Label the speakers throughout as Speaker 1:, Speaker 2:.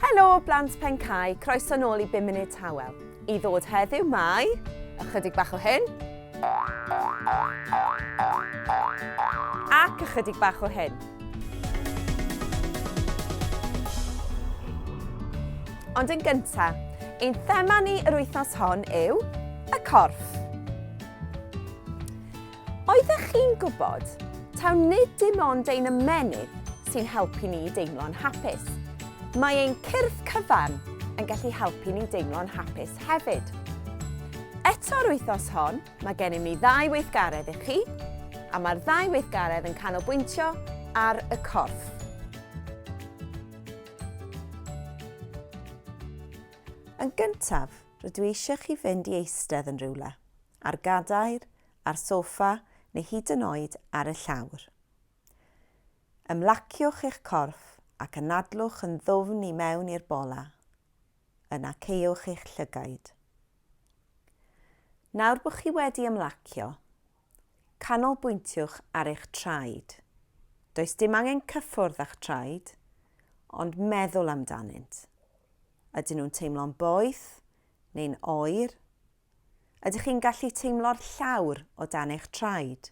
Speaker 1: Helo blant Pen Cae, croeso nôl i 5 Munud Tawel. I ddod heddiw mae ychydig bach o hyn ac ychydig bach o hyn. Ond yn gyntaf, ein thema ni yr wythnos hon yw y corff. Oeddech chi'n gwybod? Taw nid dim ond ein ymennydd sy'n helpu ni i deimlo'n hapus. Mae ein cyrff cyfan yn gallu helpu ni deimlo'n hapus hefyd. Eto'r wythnos hon, mae gennym ni ddau weithgaredd i chi, a mae'r ddau weithgaredd yn canolbwyntio ar y corff. Yn gyntaf, rydw i eisiau chi fynd i eistedd yn rhywle. ar gadair, ar soffa neu hyd yn oed ar y llawr. Ymlaciwch eich corff ac anadlwch yn ddwfn i mewn i'r bola. Yna caewch eich llygaid. Nawr bod chi wedi ymlacio, canolbwyntiwch ar eich traed. Does dim angen cyffwrdd â'ch traed, ond meddwl amdanynt. Ydyn nhw'n teimlo'n boeth neu'n oer? Ydych chi'n gallu teimlo'r llawr o dan eich traed?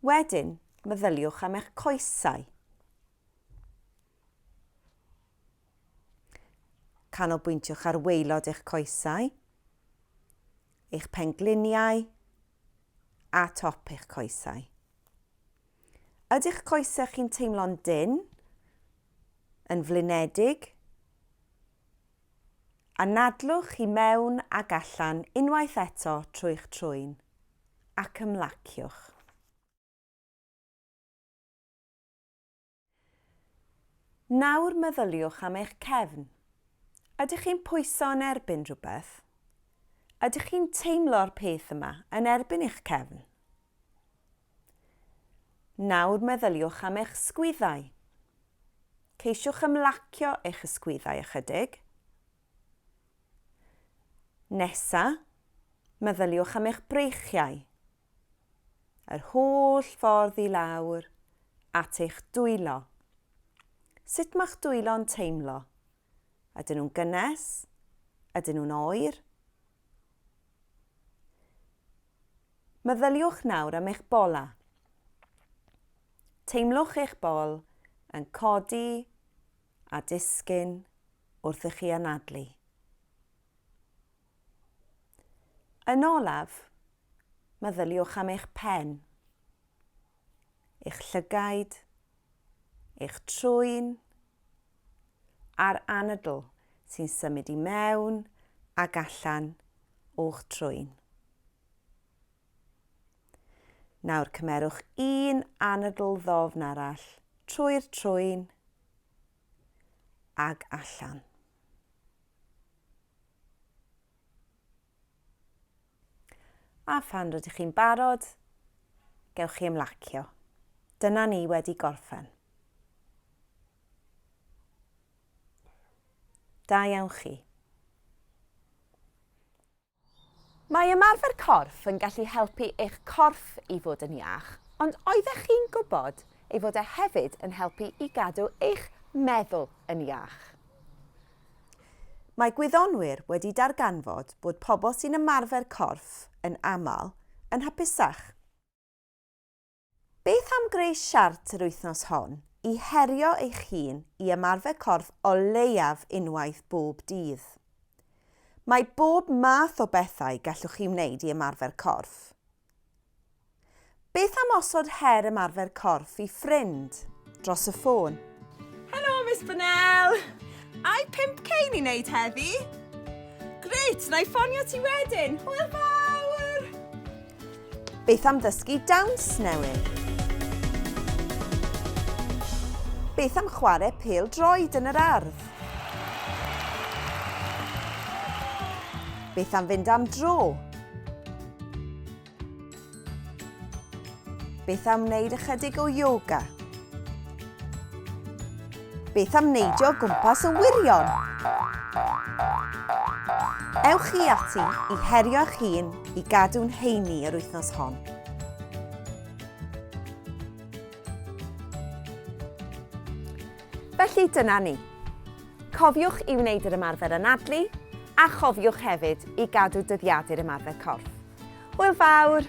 Speaker 1: Wedyn, meddyliwch am eich coesau. Canolbwyntiwch ar weilod eich coesau, eich pengliniau a top eich coesau. Ydych coesau chi'n teimlo'n dyn, yn flinedig, Anadlwch i mewn ac allan unwaith eto trwy'ch trwyn, ac ymlaciwch. Nawr meddyliwch am eich cefn. Ydych chi'n pwyso yn erbyn rhywbeth? Ydych chi'n teimlo'r peth yma yn erbyn eich cefn? Nawr meddyliwch am eich sgwyddau. Ceisiwch ymlacio eich ysgwyddau ychydig. Nesa, meddyliwch am eich breichiau. Yr holl ffordd i lawr at eich dwylo. Sut mae'ch dwylo'n teimlo? Ydyn nhw'n gynnes? Ydyn nhw'n oer? Meddyliwch nawr am eich bola. Teimlwch eich bol yn codi a disgyn wrth i chi anadlu. Yn olaf, meddyliwch am eich pen, eich llygaid, eich trwyn, a'r anadl sy'n symud i mewn ac allan o'ch trwyn. Nawr cymerwch un anadl ddofn arall trwy'r trwyn ag allan. A phan rydych chi'n barod, gewch chi ymlacio. Dyna ni wedi gorffen. Da iawn chi. Mae ymarfer corff yn gallu helpu eich corff i fod yn iach, ond oeddech chi'n gwybod ei fod e hefyd yn helpu i gadw eich meddwl yn iach? Mae gwyddonwyr wedi darganfod bod pobl sy'n ymarfer corff yn aml yn hapusach. Beth am greu siart yr wythnos hon i herio eich hun i ymarfer corff o leiaf unwaith bob dydd? Mae bob math o bethau gallwch chi wneud i ymarfer corff. Beth am osod her ymarfer corff i ffrind dros y ffôn? Helo, Miss
Speaker 2: Bonnell! Ai 5k ni'n wneud heddi? Grêt, na i ffonio ti wedyn! Hwyl fawr!
Speaker 1: Beth am ddysgu dawns newydd? Beth am chwarae pêl droed yn yr ardd? Beth am fynd am dro Beth am wneud ychydig o yoga? Beth am neidio gwmpas y wirion? Ewch chi ati i herio eich hun i gadw'n heini yr wythnos hon. Felly dyna ni. Cofiwch i wneud yr ymarfer anadlu, a chofiwch hefyd i gadw dyddiadu'r ymarfer corff. Hwyl fawr!